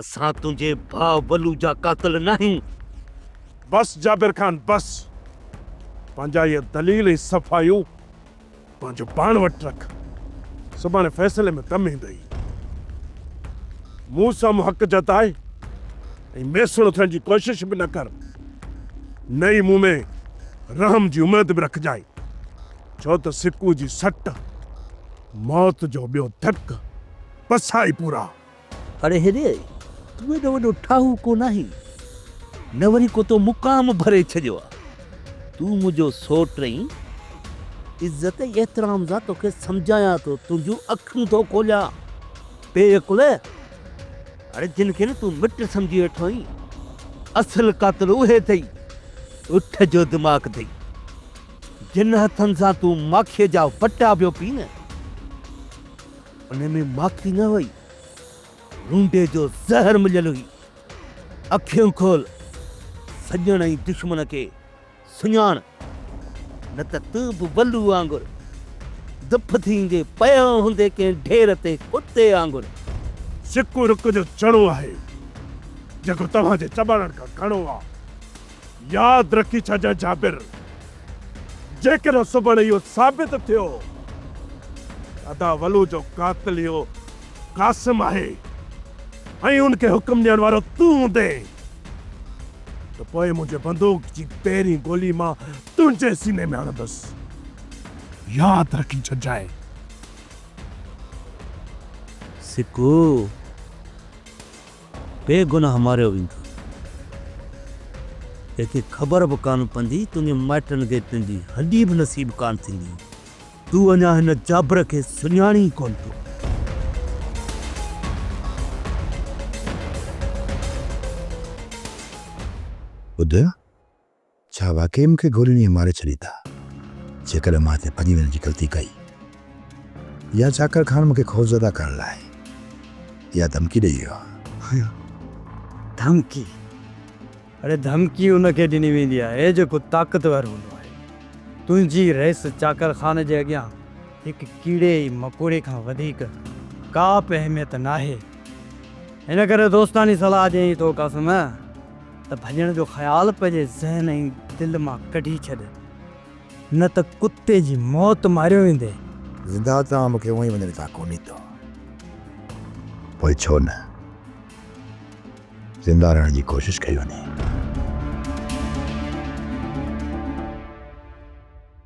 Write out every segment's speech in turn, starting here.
اسان تنهنجي ڀاء ولو جا قاتل ناهيون. بس جابر خان بس. پنهنجا اهي دليل ۽ صفايون پنهنجو پاڻ وٽ رک. سڀاڻي فيصلي ۾ ڪم ايندئي. مون سامهون حق جتاء ۽ ميسڻو ٿيڻ جي ڪوشش به نه ڪر. نه ئي مون ۾ رحم جي اميد به رکجانء. ڇو ته سڪون جي سٽ، موت جو ٻيو ڌڪ، پسائي پورا. اڙي هيري، تون ايڏو وڏو ٺاهو ڪو ناهين، نه وري ڪو تو مقام ڀري ڇڏيو آ. تون منهنجو سوٽ اين، عزت ۽ احترام سان توکي سمجهايان ٿو، تنهنجون اکيون ٿو کوليان. بي عقل! اڙي جن کي نه تون مٽ سمجهي ويٺو اين، اصل قاتل اهي اٿئي، اٺ جو دماغ اٿئي. جن هٿن سان تون ماکيء جا وٽا پيو پين. ان ۾ ماکي نه هئي، لونڊي جو زهر مليل هئي. اکيون کول، سڄڻ ۽ دشمن کي سڃاڻ، نه ته تون به ولو وانگر دڦ ٿيندي پيو هوندين ڪنهن ڍير تي ڪتي وانگر. سڪو رڪ جو چڻو آهي، جيڪو توهان جي چٻاڙڻ کان گهڻو آ. ياد رکي ڇڏجانء جابر! جيڪڏهن سڀن اهو ثابت ٿيو ته ادا ولو جو قاتل اهو قاسم آهي ۽ ان کي حڪم ڏيڻ وارو تون هوندين ته پوء منهنجي بندوق جي پهرين گولي مان تنهنجي سيني ۾ هڻندس. ياد رکي ڇڏجانء. سکو! بي گناھ ماريو ويندو. تنهنکي خبر به ڪانه پوندي، تنهنجي مائٽن کي تنهنجي هڏي به نصيب ڪانه ٿيندي. تون اڃا هن جابر کي سڃاڻين ئي ڪونه ٿو. ٻڌ! ڇا واقعي مون کي گولين ائين ماري ڇڏيندا جيڪڏهن مان هتي ڀڄي وڃڻ جي غلطي ڪئي يا چاڪر خان مون کي خوفزده ڪرڻ لاء اها ڌمڪي ڏئي ويو آهي؟ ڌمڪي؟ اڙي ڌمڪي ان کي ڏني ويندي آهي جيڪو طاقتور هوندو آهي. تنهنجي رئيس چاڪر خان جي اڳيان هڪ ڪيڙي ۽ مڪوڙي کان وڌيڪ ڪا به اهميت ناهي. ان ڪري دوستاڻي صلاح ڏيئين ٿو قاسم. ته ڀڄڻ جو خيال پنهنجي ذهن ۽ دل مان ڪڍي ڇڏ، نه ته ڪتي جي موت ماريو ويندين. زنده تان مون کي اونهي وڃڻ تان ڪو ڏيندو، پوء ڇو نه زنده رهڻ جي ڪوشش ڪئي وڃي.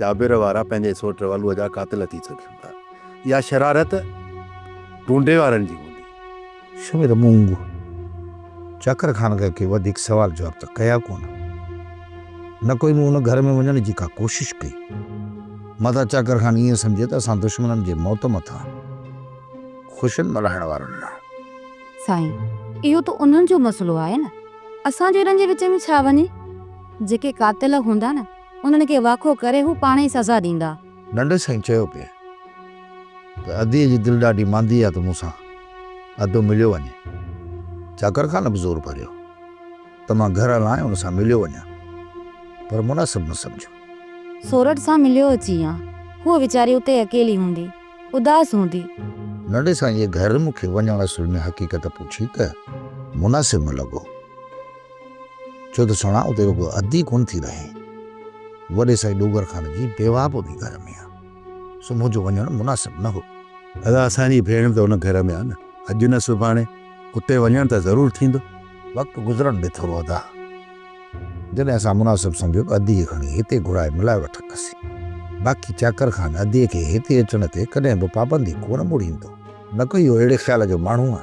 جابر وارا پنهنجي سوٽ رولوء جا قاتل ٿي سگهن ٿا. اها شرارت ڍونڍي وارن جي هوندي. شمير مونگ چاڪر خان کان ڪي وڌيڪ سوال جواب ته ڪيا ڪونه. نه ڪوئي مون ان گهر ۾ وڃڻ جي ڪا ڪوشش ڪئي. متان چاڪر خان ائين سمجهي ته اسان دشمنن جي موت مٿان خوشين ملهائڻ وارن لاء. سائين، اهو ته انهن جو مسئلو آهي نه. اسان جهڙن جي وچ ۾ ڇا وڃي. جيڪي قاتل هوندا نه. انهن کي واکو ڪري هو پاڻ ئي سزا ڏيندا. ننڍي سائين چيو پئي ته ادي جي دل ڏاڍي ماندي آهي ته مون سان ادو مليو وڃي. چاڪر خان به زور ڀريو ته مان گهر هلان ۽ ان سان مليو وڃان پر مناسب نه سمجهيو. سورٺ سان مليو اچي هان. هوء ويچاري اتي اڪيلي هوندي. اداس هوندي. ننڍي سائينء گهر مون کي وڃڻ اصل ۾ حقيقت پڇي ته مناسب نه لڳو. ڇو ته سھڻا اتي رڳو اڌ ئي ڪونه ٿي رھين. وڏي سائين ڏوگر خان جي بيواھ به انھي گھر ۾ آ، سو منھنجو وڃڻ مناسب نه ھو. ادا اسان جي ڀيڻ ته ان گھر ۾ آ نه، اڄ نه سڀاڻي اتي وڃڻ ته ضرور ٿيندو. وقت گذرڻ ڏي ٿورو ادا، جڏھن اسان مناسب سمجھيو ته ادي کي کڻي ھتي گھرائي ملائي وٺنداسين. باقي چاڪر خان ادي کي ھتي اچڻ تي ڪڏھن به پابندي ڪونه مڙھيندو، نه ڪو اھو اھڙي خيال جو ماڻھو آ.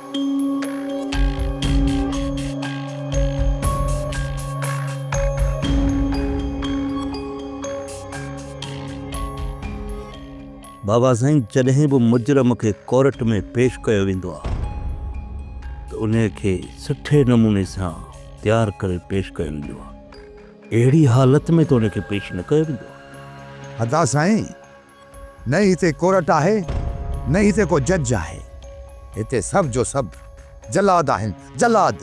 بابا سائين جڏهن به مجرم کي ڪورٽ ۾ پيش ڪيو ويندو آهي ته انهي کي سٺي نموني سان تيار ڪري پيش ڪيو ويندو آهي اهڙي حالت ۾ ته ان کي پيش نه ڪيو ويندو آهي. ادا سائين نه هتي ڪورٽ آهي نه هتي ڪو جج آهي هتي سڀ جو سڀ جلاد آهن جلاد.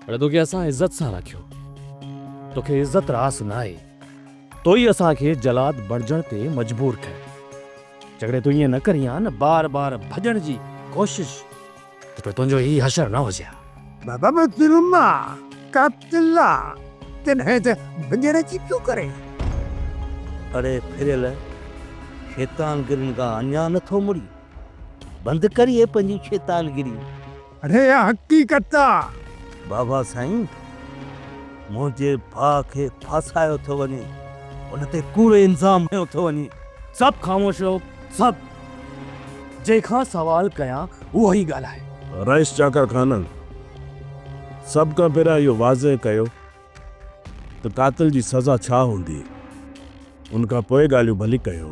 اڙي توکي اسان عزت سان رکيو توکي عزت راس ناهي تو ئي اسان کي جلاد بڻجڻ تي مجبور ڪيو جيڪڏهن تون ائين نه ڪرين ها نه بار بار ڀڄڻ جي ڪوشش ته پوء تنهنجو هي حشر نه هجي ها. بابا محترمه قاتله ڪڏهن ته ڀڄڻ جي پيو ڪري. اڙي ڦريل شيطان گرين کان اڃا نه ٿو مڙين. بند ڪري اهي پنهنجون شيطان گريون. اڙي اها حقيقت آ. بابا سائين منهنجي ڀاء کي ڦاسايو ٿو وڃي. هن تي ڪوڙو الزام هنيو ٿو وڃي. سڀ خاموش رهو. سڀ جنهن کان سوال ڪيان اهو ئي ڳالهائي. رئيس چاڪر خانن سڀ کان پهريان اهو واضح ڪيو ته قاتل جي سزا ڇا هوندي، ان کان پوء ڳالهيون ڀلي ڪيو.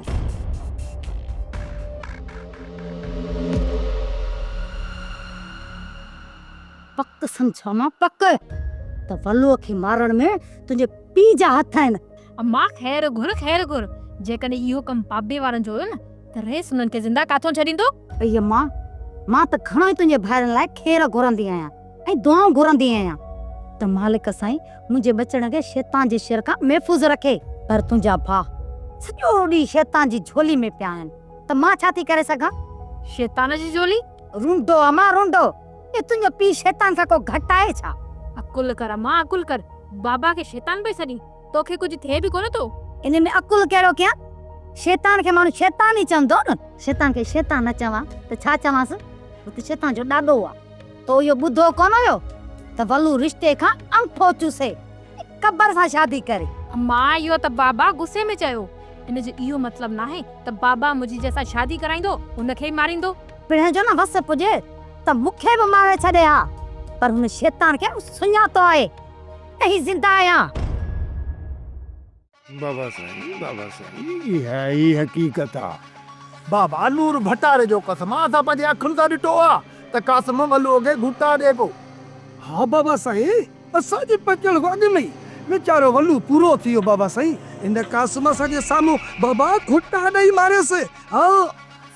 پڪ سمجهاء مان پڪ ته ولوء کي مارڻ ۾ تنهنجي پيء جا هٿ آهن. اما خير گهر خير گهر، جيڪڏهن اهو ڪم پاٻي وارن جو هيو نه ته رئيس انهن کي زنده ڪاٿئون ڇڏيندو؟ اي اما، مان ته گهڻو ئي تنهنجي ڀائرن لاء خير گهرندي آهيان ۽ دعائون گهرندي آهيان ته مالڪ سائين منهنجي ٻچڙن کي شيطان جي شر کان محفوظ رکي، پر تنهنجا ڀاء سڄو ڏينهن شيطان جي جهولي ۾ پيا آهن ته مان ڇا ٿي ڪري سگهان؟ شيطان جي جهولي؟ رونڊو اما رونڊو، اي تنهنجو پيء شيطان کان ڪو گهٽ آهي ڇا؟ عقل ڪر اما عقل ڪر، بابا کي شيطان پئي سڏين؟ توکي ڪجهه ٿئي به ڪونه ٿو. ان ۾ عقل ڪهڙو ڪيان؟ شيطان کي ماڻهو شيطان ئي چوندو نه. شيطان کي شيطان نه چوان ته ڇا چوانس؟ هو ته شيطان جو ڏاڏو آ. تو اهو ٻڌو ڪونه هيو ته ولو رشتي کان انگٺو چوسي ۽ ڪٻر سان شادي ڪري. مان اهو ته بابا غصي ۾ چيو. ان جو اهو مطلب ناهي ته بابا منهنجي جنهن سان شادي ڪرائيندو ان کي ئي ماريندو. پڻهين جو نه وس پڄي ته مون کي به ماري ڇڏي ها پر هن شيطان کي مون سڃاتو آهي. اهي زنده آهيان. بابا سائين بابا سائين اها ئي حقيقت آ. بابا نور ڀٽاري جو قسم آ اسان پنهنجي اکين سان ڏٺو آ ته قاسم ملوء کي گهوٽا ڏي پيو. ها بابا سائين اسان جي پهچڻ کان اڳ ۾ ئي ويچارو ولو پورو ٿي ويو بابا سائين ان قاسم اسان جي سامهون بابا گهوٽا ڏئي ماريس ها.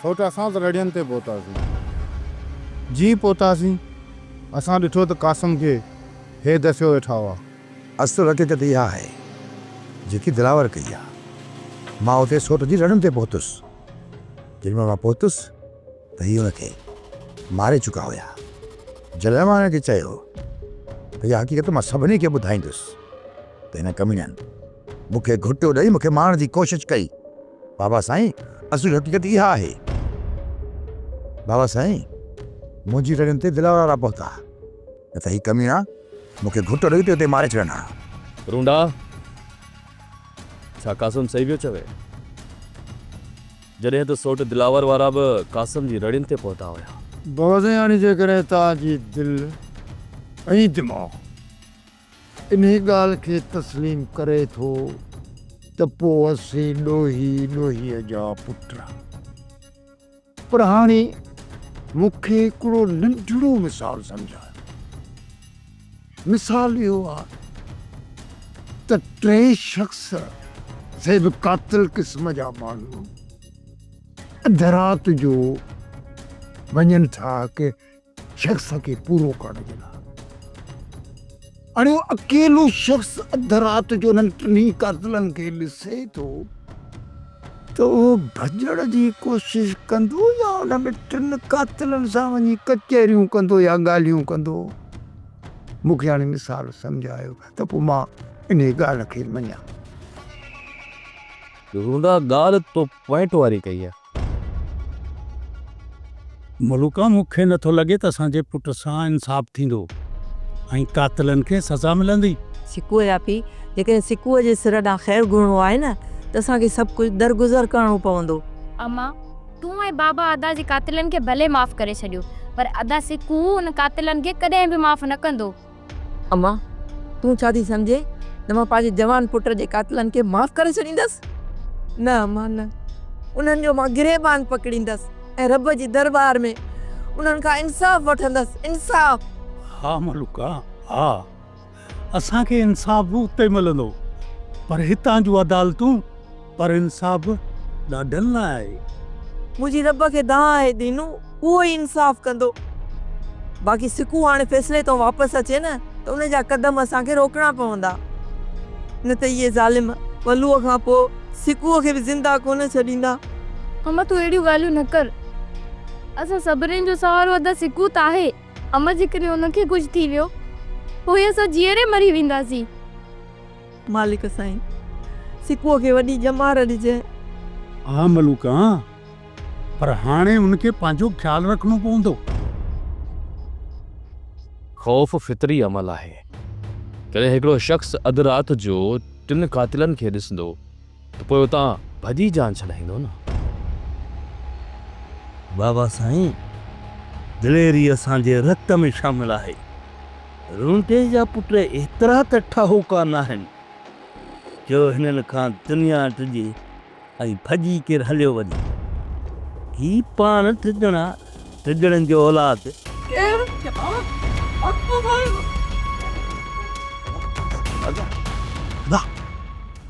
سوٽ اسان ته رڙين تي پهتاسين. جيئن پهتاسين، اسان ڏٺو ته قاسم کي هي دسيو ويٺا هئا. اصل حقيقت اها آهي، جيڪي دلاور ڪئي آهي. مان اتي سوٽ جي رڙن تي پهتس. جيڏي مهل مان پهتس ته هي هن کي ماري چڪا هيا. جڏهن مان هن کي چيو ته اها حقيقت مان سڀني کي ٻڌائيندس ته هن ڪميڻن مون کي گهٽيو ڏئي مون کي مارڻ جي ڪوشش ڪئي. بابا سائين اصل حقيقت اها آهي. بابا سائين منهنجي رڙين تي دلاور وارا پهتا نه ته هي ڪميڻا مون کي گهٽ ڏئي ته اتي ماري ڇڏن ها. رونڊا ڇا قاسم صحيح پيو چوي؟ جڏهن ته سوٽ دلاور وارا به قاسم جي رڙين تي پهتا هيا. بابا سائين هاڻي جيڪڏهن توهان جي دل ۽ دماغ انهي ڳالهه کي تسليم ڪري ٿو ته پوء اسين ڏوهي ڏوهيء جا پٽ. پر هاڻي مون کي هڪڙو ننڍڙو مثال سمجهايو. مثال اهو آهي ته ٽي شخص سي به قاتل قسم جا ماڻهو اڌ رات جو وڃن ٿا هڪ شخص کي پورو ڪرڻ جي لاء اڻيو اڪيلو شخص اڌ رات جو انهن ٽنهي قاتلن کي ڏسي ٿو ته اهو ڀڄڻ جي ڪوشش ڪندو يا ان ۾ ٽن قاتلن سان وڃي ڪچهريون ڪندو يا ڳالهيون ڪندو مون کي هاڻي مثال سمجهايو ته پوء مان انهي ڳالهه کي مڃان. رونا ڳالهه تو پوائنٽ واري ڪئي آهي. ملوڪا مون کي نٿو لڳي ته اسان جي پٽ سان انصاف ٿيندو ۽ قاتلن کي سزا ملندي. سڪوء جا پيء، جيڪڏهن سڪوء جي سر ڏانهن خير گهرڻو آهي نه ته اسان کي سڀ ڪجهه درگذر ڪرڻو پوندو. اما، تون ۽ بابا ادا جي قاتلن کي ڀلي معاف ڪري ڇڏيو، پر ادا سڪوء ان قاتلن کي ڪڏهن به معاف نه ڪندو. امان، تون ڇا ٿي سمجهين ته مان پنهنجي جوان پٽ جي قاتلن کي معاف ڪري ڇڏيندس؟ نه امان نه، انهن جو مان گريبان پڪڙيندس ۽ رب جي درٻار ۾ انهن کان انصاف وٺندس، انصاف! ها ملوڪا ها، اسان کي انصاف به اتي ملندو، پر هتان جون عدالتون. پر انصاف ڏاڍن لاء آهي. منهنجي رب کي دانهن آهي دينو، اهو ئي انصاف ڪندو. باقي سڪون هاڻي فيصلي تان واپس اچي نه ته ان جا قدم اسان کي روڪڻا پوندا. نه ته اهي ظالم ولوء کان پوء سڪون کي به زنده ڪونه ڇڏيندا. حمه تون اهڙيون ڳالهيون نه ڪر. اسان سڀني جو سهارو ادا سڪون ته آهي. حمه جيڪڏهن ان کي ڪجهه ٿي ويو پوء اسان جيئري مري وينداسين. مالڪ سائين! سڪوء کي وڏي ڄمار ڏجئه. ها ملوڪ ها، پر هاڻي ان کي پنهنجو خيال رکڻو پوندو. خوف فطري عمل آهي. جڏهن هڪڙو شخص اڌ رات جو ٽن قاتلن کي ڏسندو. ته پوء اتان ڀڄي جان ڇڏائيندو نه. بابا سائين دليري اسان جي رت ۾ شامل آهي. رونٽي جا پٽ ايترا ته ٺاهوڪا ناهن جو هنن کان دنيا ڊڄي ۽ ڀڄي ڪير هليو وڃي. هي پاڻ ڊڄڻا ڊڄڻن جو اولاد.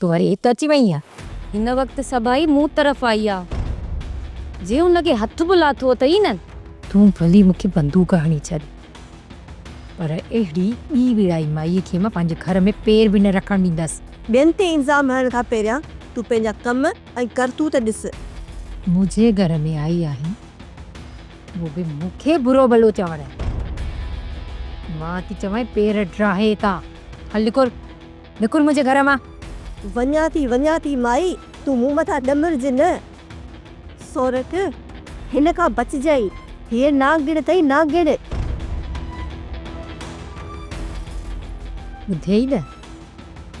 تون وري هت اچي وئين آ. هن وقت سڀائي مون طرف آئي آ. جي هن کي هٿ به لاٿو اٿئي نه. تون ڀلي مون کي بندوق هڻي ڇڏ پر اهڙي ٻي ويڙهائي مائيء کي مان پنهنجي گهر ۾ پير به نه رکڻ ڏيندس. ٻين تي الزام هڻڻ کان پهريان تون پنهنجا ڪم ۽ ڪرتوت ڏس. منهنجي گهر ۾ آئي آهين اهو به مون کي برو ڀلو چوڻ. مان ٿي چوانء پير ڊاهي اتان هل نڪر. نڪر منهنجي گهر مان. وڃان ٿي وڃان ٿي مائي تون مون مٿان ڏمرج نه. سورٺ، هن کان بچجئي. هيء نانگڻ اٿئي نانگڻ. ٻڌيئي نه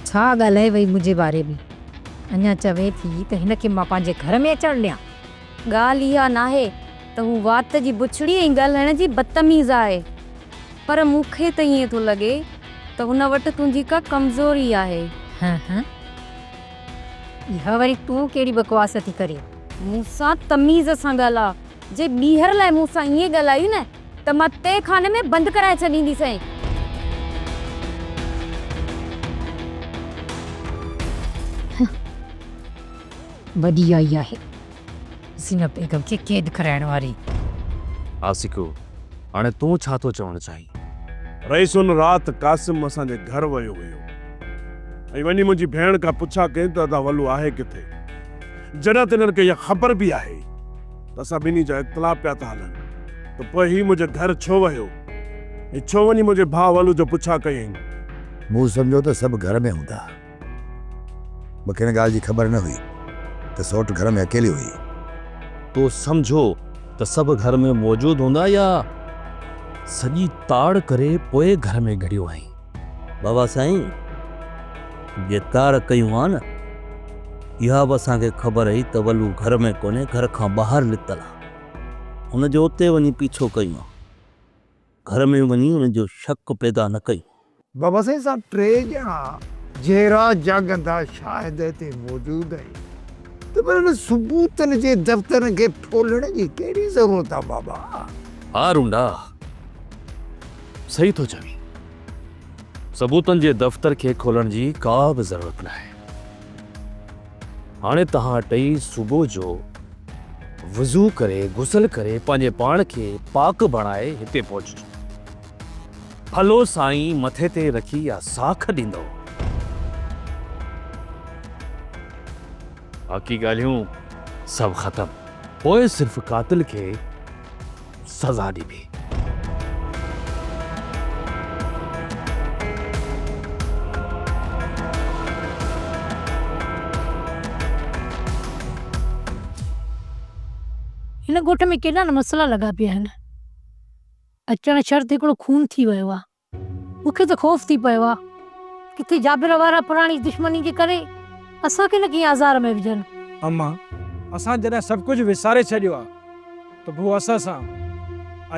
ڇا ڳالهائي وئي منهنجي باري ۾. اڃا چوين ٿي ته هن کي مان پنهنجي گهر ۾ اچڻ ڏيان. ڳالهه اها ناهي ته هو وات جي بڇڙي ۽ ڳالهائڻ جي بدتميز آهي، پر مون کي ته ائين ٿو لڳي ته هن وٽ تنهنجي ڪا ڪمزوري آهي. هه هه. اها وري تون ڪهڙي بڪواس ٿي ڪرين. مون سان تميز سان ڳالهاء. جي ٻيهر لاء مون سان ائين ڳالهايون نه ته مان تي خاني ۾ بند ڪرائي ڇڏينديسين. هه. وڏي آئي آهي زينب بيگم کي قيد ڪرائڻ واري. عاشقو! هاڻي تون ڇا ٿو چوڻ چاهين؟ رئيس ان رات قاسم اسان جي گهر ويو هيو ۽ وڃي منهنجي ڀيڻ کان پڇا ڪئين ته ادا ولو آهي ڪٿي؟ جڏهن ته هنن کي اها خبر به آهي ته اسان ٻنهي جا اختلاف پيا ٿا هلن ته پوء هي منهنجي گهر ڇو ويو ۽ ڇو وڃي منهنجي ڀاء ولو جو پڇا ڪيائين؟ مون سمجهيو ته سڀ گهر ۾ هوندا. مون کي ان ڳالهه جي خبر نه هئي ته سوٽ گهر ۾ اڪيلي هئي. تو سمجهو ته سڀ گهر ۾ موجود هوندا يا سڄي تاڙ ڪري پوء گهر ۾ گهڙيو آهين؟ بابا سائين جي تاڙ ڪئي هئائون نه اها به اسان کي خبر هئي ته ولو گهر ۾ ڪونهي گهر کان ٻاهر لتل آهي. هن جو اتي وڃي پيڇو ڪيون. گهر ۾ وڃي ان جو شڪ پيدا نه ڪيو. بابا سائين سان ٽي ڄڻا جيئرا جاڳندا شاهد هتي موجود آهن ته پوء انهن ثبوتن جي دفترن کي ڦولڻ جي ڪهڙي ضرورت آهي بابا؟ ها رونڊا صحيح ٿو چوين. ثبوتن جي دفتر کي کولڻ جي ڪا به ضرورت ناهي. هاڻي توهان ٽئي صبح جو وضو ڪري غسل ڪري پنهنجي پاڻ کي پاڪ بڻائي هتي پهچجو. ڦلو سائين مٿي تي رکي يا ساک ڏيندو. باقي ڳالهيون سڀ ختم. پوء صرف قاتل کي. سزا ڏبي. هن ڳوٺ ۾ ڪيڏا نه مسئلا لڳا پيا آهن. اچڻ شرط هڪڙو خون ٿي ويو آهي. مون کي ته خوف ٿي پيو آ ڪٿي جابر وارا پراڻي دشمني جي ڪري اسان کي نه ڪنهن آزار ۾ وجهن. امان، اسان جڏهن سڀ ڪجهه وساري ڇڏيو آ ته پوء اسان سان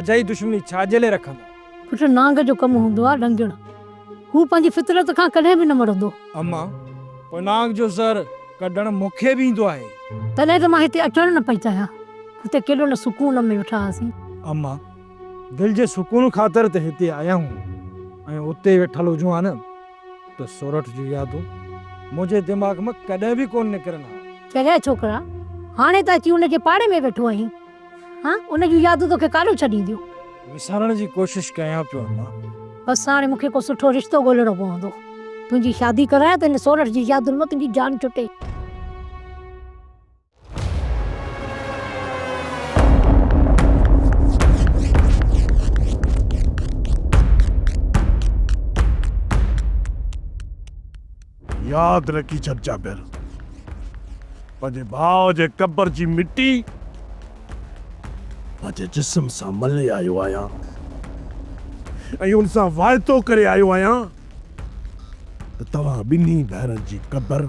اجائي دشمني ڇا جي لئي رکندا؟ پٽ نانگ جو ڪم هوندو آ ڏنگڻ. هو پنهنجي فطرت کان ڪڏهن به نه مڙندو. امان، پوء نانگ جو زهر ڪڍڻ مون کي به ايندو آهي. تڏهن ته مان هتي اچڻ نه پئي چاهيان. هتي ڪيڏو نه سڪون ۾ ويٺا هئاسين. امان، دل جي سڪون خاطر ته هتي آيا آهيون ۽ اتي ويٺل هجون ها نه ته سورٺ جون يادون منهنجي دماغ مان ڪڏهن به ڪونه نڪرن ها. چريا ڇوڪرا، هاڻي ته اچي ان جي پاڙي ۾ ويٺو آهين. ها ان جون يادون توکي ڪاڏو ڇڏينديون؟ وسارڻ جي ڪوشش ڪيان پيو اما. بس هاڻي مون کي ڪو سٺو رشتو ڳولهڻو پوندو. تنهنجي شادي ڪرايان ته هن سورٺ جي يادن مان تنهنجي جان ڇٽي. ياد رکي ڇڏ جابر پنهنجي ڀاء جي قبر جي مٽي پنهنجي جسم سان ملي آيو آهيان ۽ ان سان واعدو ڪري آيو آهيان ته توهان ٻنهي ڀائرن جي قبر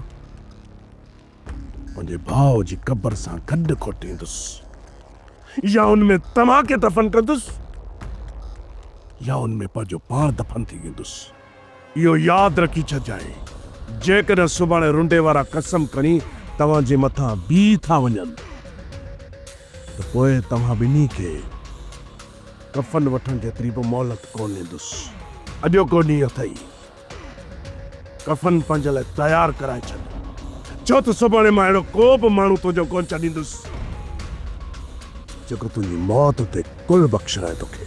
پنهنجي ڀاء جي قبر سان گڏ کوٽيندس يا ان ۾ توهان کي دفن ڪندس يا ان ۾ پنهنجو پاڻ دفن ٿي ويندس. اهو ياد رکي ڇڏجانء جيڪڏهن سڀاڻي رنڊي وارا قسم کڻي توهان جي مٿان بيهي ٿا وڃن ته پوء توهان ٻنهي کي ڪفن وٺڻ جيتري به مهلت ڪونه ڏيندس. اڄوڪو ڏينهن اٿئي. ڪفن پنهنجي لاء تيار ڪرائي ڇڏ، ڇو ته سڀاڻي مان اهڙو ڪو به ماڻهو تنهنجو ڪونه ڇڏيندس، جيڪو تنهنجي موت تي ڪل بخشرائي توکي.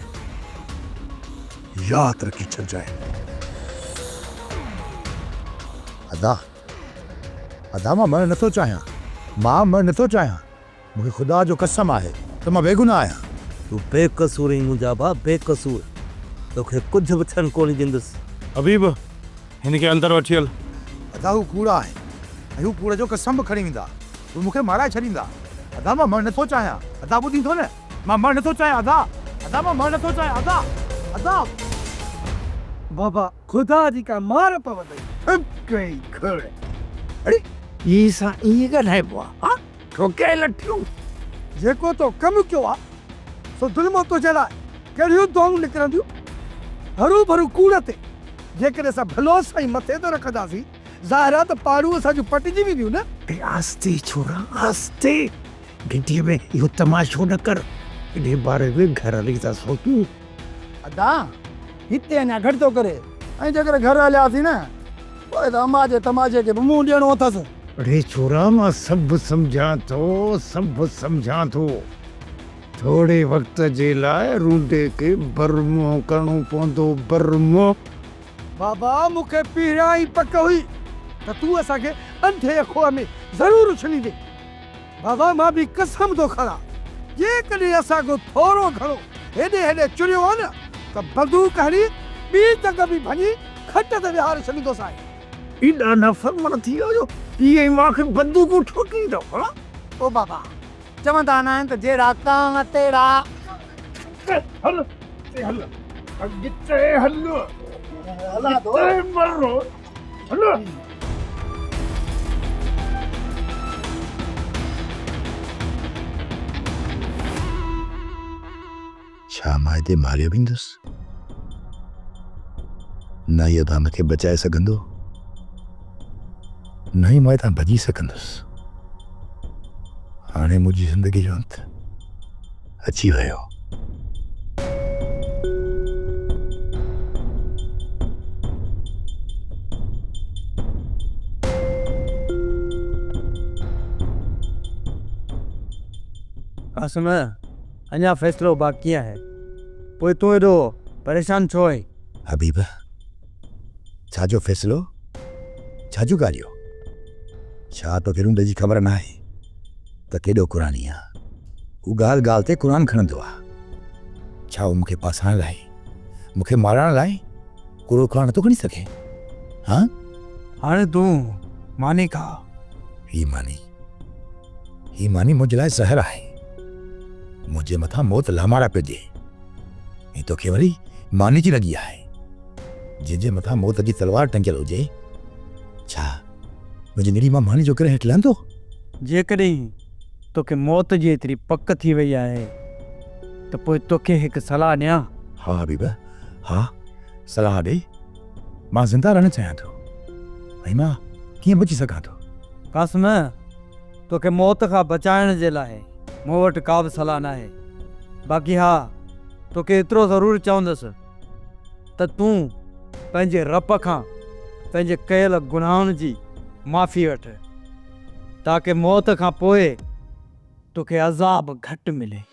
ياد رکي ڇڏجانء. ادا! ادا! مان مرڻ نٿو چاهيان. مان مرڻ نٿو چاهيان. مون کي خدا جو قسم آهي ته مان بيگناهه آهيان. تون بيقصور آهين منهنجا ڀاء، بيقصور. توکي ڪجهه به ٿيڻ ڪونهي ڏيندس. حبيب، هن کي اندر وٺي هل. ادا هو ڪوڙا آهن ۽ هو ڪوڙ جو قسم به کڻي ويندا. هو مون کي مارائي ڇڏيندا. ادا مان مرڻ نه ٿو چاهيان. ادا ٻڌين ٿو نه. مان مرڻ نه ٿو چاهيان ادا. ادا مان مرڻ نه ٿو چاهيان ادا. ادا. بابا خدا جي ڪا مار پوندئي. ٿڪ ڪئي گهڙ. اڙي! ٻئي سان ائين ڳالهائبو آهي؟ ٺوڪي لٺيون، جيڪو تو ڪم ڪيو آ، سو ظلمو تنهنجي لاء ڪهڙيون دعائون نڪرنديون؟ هرو ڀرو ڪوڙ تي جيڪڏهن اسان ڀلو سائين مٿي ته رکنداسين، ظاهر آ ته پاڙون اسان جون پٽجي وينديون نه! ۽ آهستي ڇورا، آهستي! گهٽيء ۾ اهو تماشو نه ڪر، انهيء باري ۾ گهرالي ٿا سوچون. ادا! هتي اڃا گهٽ ٿو ڪري. ۽ جيڪڏهن گهر هلياسين نه پوء ته اما جي تماشي کي به منهن ڏيڻو اٿس. اڙي ڇورا مان سڀ سمجهان ٿو سڀ سمجهان ٿو. ٿوري وقت جي لاء رونڊي کي بر منهن ڪرڻو پوندو بر منهن. بابا مون کي پهريان ئي پڪ هئي ته تون اسان کي انڌي کوهه ۾ ضرور اڇليندين. بابا مان به قسم ٿو کڻان جيڪڏهن اسان ڪو ٿورو گهڻو هيڏي هيڏي چريو ها نه ته بندوق هڻي ٻي ٽنگ ۾ ڀڃي کٽ تي ويهاري ڇڏيندوسانء. ايڏا نافرمان ٿي ويا جو پيء ۽ ماء کي بندوقون ٺوڪين ٿا ها. او بابا چوندا نه آهن ته جهڙا ڪانء تهڙا. اڳتي هل اڳتي هل اڳتي هل اڳتي مر. ڇا مان هتي ماريو ويندس؟ نه اهو تان مون کي بچائي سگهندو، نه ئي مان هتان ڀڄي سگهندس. هاڻي منهنجي زندگي جو انت. اچي ويو. قاسم، اڃا فيصلو باقي آهي. پوء تون ايڏو پريشان ڇو آهين؟ حبيبه، ڇا جو فيصلو؟ ڇا جون ڳالهيون؟ ڇا توکي روند جي خبر ناهي ته ڪيڏو قرآني آهيان؟ هو ڳالهه ڳالهه تي قرآن کڻندو آهي. ڇا هو مون کي ڦاسائڻ لاء، مون کي مارڻ لاء ڪوڙو قرآن نٿو کڻي سگهي؟ هان؟ هاڻي تون ماني کاء. هي ماني، هي ماني منهنجي لاء زهر آهي. منهنجي مٿان موت لامارا پيو ڏي. ۽ توکي وري ماني جي لڳي آهي. جنهن جي مٿان موت جي تلوار ٽنگيل هجي، ڇا منهنجي نڙي مان ماني جو ڪري هيٺ لهندو؟ جيڪڏهن توکي موت جي ايتري پڪ ٿي وئي آهي ته پوء توکي هڪ صلاح ڏيان؟ ها حبيبه، ها، صلاح ڏي. مان زنده رهڻ چاهيان ٿو ۽ مان ڪيئن بچي سگهان ٿو؟ قاسم، توکي موت کان بچائڻ جي لاء مون وٽ ڪابه صلاح ناهي. باقي ها، توکي ايترو ضرور چوندس ته تون پنهنجي رب کان پنهنجي ڪيل گناهن جي معافي وٺ، تاڪه موت کان پوء توکي عذاب گهٽ ملي.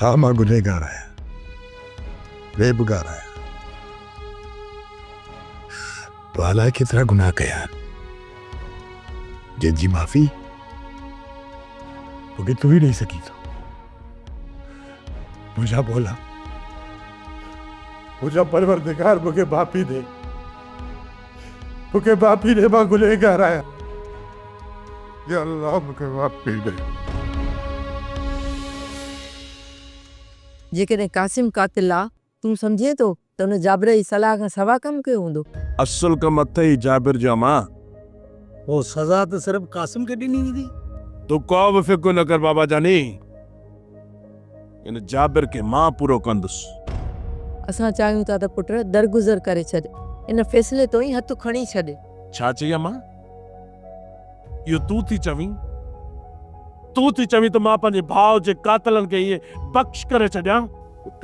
ها مان گنهگار آهيان ويبگار آهيان تو الائي ڪيترا گناهه ڪيا آهن جن جي معافي توکي تون ئي ڏئي سگهين ٿو منهنجا مولا منهنجا پروردگار مونکي معافي ڏي مونکي معافي ڏي مان گنهگار آهيان يا الله مونکي معافي ڏي. جيڪڏهن قاسم قاتل آ تون سمجهين ٿو ته ان جابر جي صلاح کان سوا ڪم ڪيو هوندو. اصل ڪم اٿئي جابر جي امان. هو سزا ته صرف قاسم کي ڏني ويندي. تون ڪو به فڪر نه ڪر بابا جاني ان جابر کي مان پورو ڪندس. اسان چاهيون ٿا ته پٽ درگذر ڪري ڇڏ. ان فيصلي تون ئي هٿ کڻي ڇڏ. ڇا چئي امان؟ اهو تون ٿي چوين؟ تون ٿي چوين ته مان پنهنجي ڀاء جي قاتلن کي ائين بخش ڪري ڇڏيان؟ پٽ،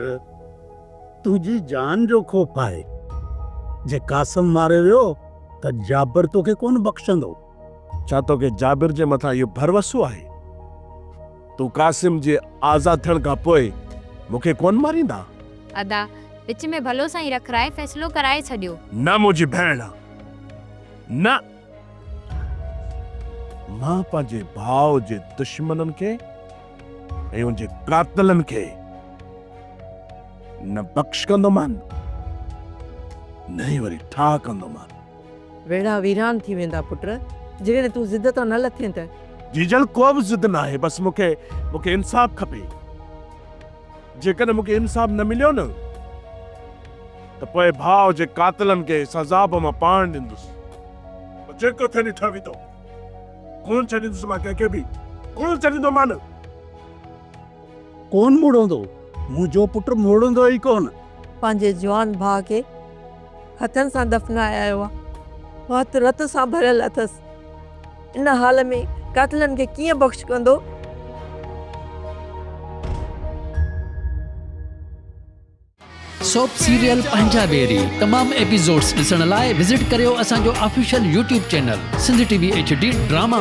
تنهنجي جان جو خوف آهي. جي قاسم ماري ويو ته جابر توکي ڪونه بخشندو. ڇا توکي جابر جي مٿان اهو ڀروسو آهي؟ تون قاسم جي آزاد ٿيڻ کان پوء مون کي ڪونه ماريندا؟ ادا، وچ ۾ ڀلو سائين رکرائي فيصلو ڪرائي ڇڏيو. نه منهنجي ڀيڻ، نه! مان پنهنجي ڀاء جي دشمنن کي ۽ ان جي قاتلن کي نه بخشڪندومان، نه ئي وري ٺاهه ڪندومان. ويڙها ويران ٿي ويندا پٽ، جيڪڏهن تون ضد تان نه لٿين ته. جيجل ڪوبه ضد ناهي، بس مون کي مون کي انصاف کپي. جيڪڏهن مون کي انصاف نه مليو نه ته پوء ڀاء جي قاتلن کي سزا به مان پاڻ ڏيندس. پوء جيڪو ٿئي ڏٺو ويندو. ڪونه ڇڏيندس مان ڪنهن کي به، ڪونه ڇڏيندومان. ڪونه مڙندو، منهنجو پٽ مڙندو ئي ڪونه. پنهنجي جوان ڀاء کي. هٿن سان دفنايا هئا. هٿ رت سان ڀريل اٿس. ان حال ۾ قاتلن کي ڪيئن بخش ڪندو؟ سوپ سيريل پنهنجا ويري تمام ايپيسوڊس ڏسڻ لاء وزٽ ڪريو اسان جو official YouTube channel Sindh T V HD drama.